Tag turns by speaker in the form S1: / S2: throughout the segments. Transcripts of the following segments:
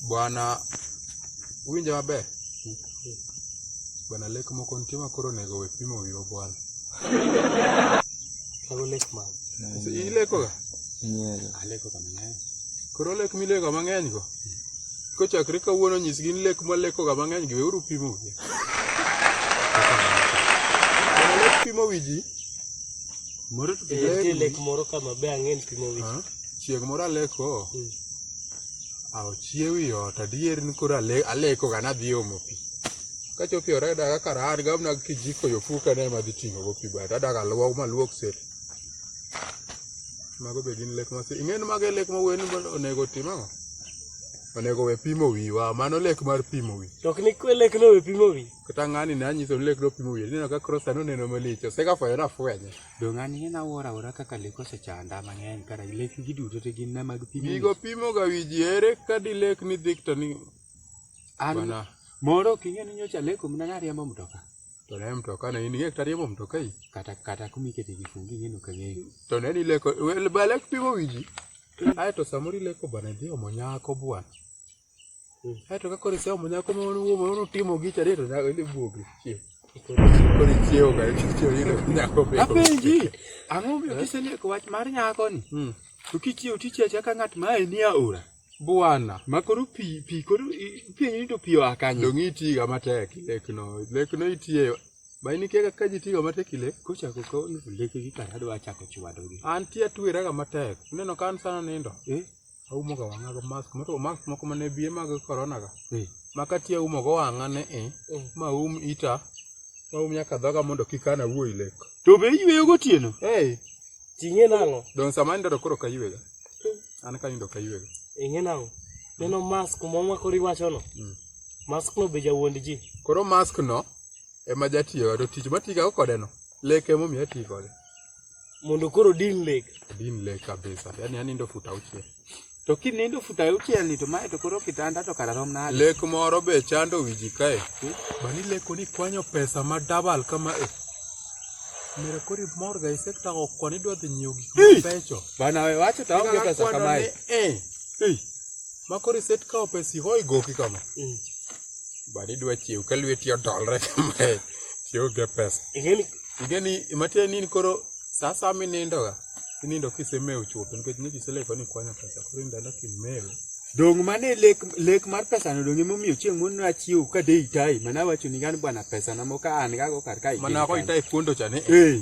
S1: Bwana winja maber. Bwana lek moko nitie ma koro onego we pimo wiwa bwana.
S2: Kago lek ma. Ileko ga?
S1: Nyero. Aleko
S2: ga mang'eny. Koro lek mileko
S1: mang'eny go. Kochakre kawuono nyisgi ni lek maleko ga mang'eny gi weuru pimo wiwa. Bwana lek pimo wiji.
S2: Moro to lek moro kama be ang'en pimo wiji. Chieng' moro aleko.
S1: Aw chiew i ot adier ni koro aleko ga nadhi omo pi. Kachopo i ot ayudo kaka rahan ga mana kijiko yo fuka ne ema adhi ting'o go pi but adak aluok maluok set. Mago be gin lek mase ing'e ni mago e lek ma wuoyi ni onego otim ang'o? Onego we pimo wiwa mano lek mar pimo wi. To ok ni kwe lek no we
S2: pimo wi. Kata ng'ani ne anyiso
S1: ni lek no pimo wi. Ineno ka cross anoneno malich osegafwenyo nafwenye. Dong an hien awuoro
S2: awuora kaka lek osechanda mang'eny kara lek gi duto te gin na mag pimo. Gigo pimo ga wi ji
S1: ere ka di lek ni dhik to ni an bana.
S2: moro ok ing'e ni nyocha leko mna nariembo mtoka. To ne mtoka
S1: ne in ing'e kata riembo mtoka i. Kata kata kumikete
S2: gi fungi ing'e no kang'eyo. To ne ni leko
S1: wel ba lek pimo wi ji. Ae to samoro ileko bana idhi omo nyako bwana. Kaeto ka koro iseomo nyako ma notimo gi chadi to nyako idhi buogi. Koro ichiewo ga ichiewo yudo nyako be. Apenji, ang'o
S2: miyo eh? kiseleko wach mar nyako ni? Hmm. To kichiewo tichiewo chaka ng'at ma ni aora. Bwana. Ma
S1: koro pi pi
S2: koro penyi ni to pi oa kanye? Donge iti ga matek
S1: lekno. Lekno itie ma in ikiaga ka ji tiyo matek ile kochako ka
S2: leke gi kar adwa chako chwadogi an ti atweraga
S1: matek ineno ka an sana nindo eh? aumo ga wang'a gi mask moro mask moko mane biye mag corona ga ma kati aumo go wang'a ne e ma um ita ma um nyaka dhoga mondo kik ana wuoyi lek to be iyweyo
S2: gotieno hey ting'e nang'o don sama nindo to koro ok
S1: aywega an ka nindo ok aywega ing'e nang'o
S2: neno mask ma mwakoro iwachono mm. mask no be jawuond ji koro mask no
S1: ema jatiyoga to tich matigago kodeno lek emomiyo ati kode Mondo
S2: koro din lek. Din lek kabisa.
S1: Yaani yani ndo futa uche. To kinindo
S2: futa uche ni to mae to koro kitanda to kara rom nade. Lek moro be chando
S1: wiji kae. Hmm? Bani leko ni kwanyo pesa ma double kama e. Mera kori mor ga isekta ko kwani dwa dhi nyiew gik ma pecho. Bana we wacho ta
S2: onge pesa kama e. Eh. Hey. Makori
S1: set ka opesi hoi goki kama. Mm. bade idwa chiew ka lweti odolre kamae tionge pesa ingeni ingeni matiende ni in koro saa saa minindoga inindo kisemewo chuth nikech ne kiseleko ni kwanyo pesa koro in dala kimewo dong mane
S2: lek lek mar pesa no dong emomiyo chieng' mon nachiew ka de itai mana wacho ni gan bwana pesa na moka an gago kar ka mana ko itai kuondo cha
S1: ni eh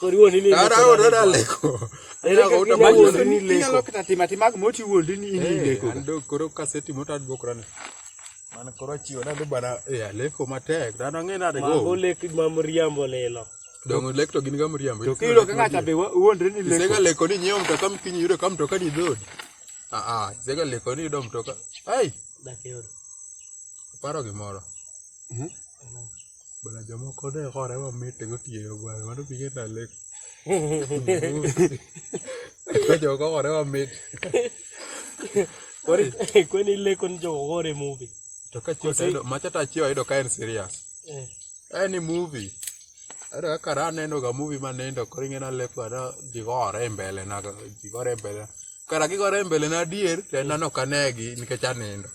S1: koriwo
S2: ni ni ara o dada leko
S1: era ko uta ma
S2: wuondi ni leko nyalo kata tima tima mo ti wuondi ni ni eh, leko ando koro kaseti
S1: mo tad bokra ne man koro chiwo na bana e eh, leko matek dano ng'e na de go ma lek ma mriambo
S2: lelo dongo lek to gin
S1: ga mriambo to kilo ka ngata be
S2: wuondi ni leko sega leko ni nyom to kam
S1: kinyi yudo kam to ka ni dod a a sega leko ni dom to ka ai
S2: dakero
S1: paro gimoro mhm Bana jomoko ne hore mamit gotieno bana mano pige nalek. Jomoko hore mamit. Kwani
S2: kwani leko ni jomoko hore movie. To ka chiyo tayudo
S1: macha ta chiyo ayudo ka en serious. Eh. En ni movie. Ayudo kaka ra aneno ga movie ma nindo koro ing'e naleko ana jigore e mbele na jigore e mbele. Kara gigore e mbele na adier to en nano kanegi nikech anindo.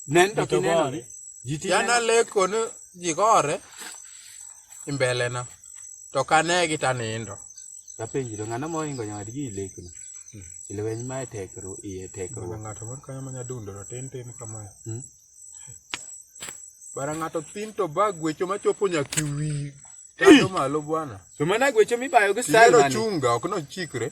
S2: Nendo to gore. Yana
S1: leko ni ji gore imbele na. To kane gi ta nindo. Kapenji to
S2: ng'ano mohingo nyawadgi ilekno. Hmm. Ilweny ma tekru iye tekru. Ng'ato
S1: moro kanyo manya dundo to tin tin kamae. Hmm? Bara ng'ato tin to ba gwecho machopo nyaka wi. Tado
S2: malo bwana.
S1: To
S2: mana gwecho
S1: mibayo
S2: gi style
S1: mane.
S2: Chunga ok
S1: no
S2: chikre.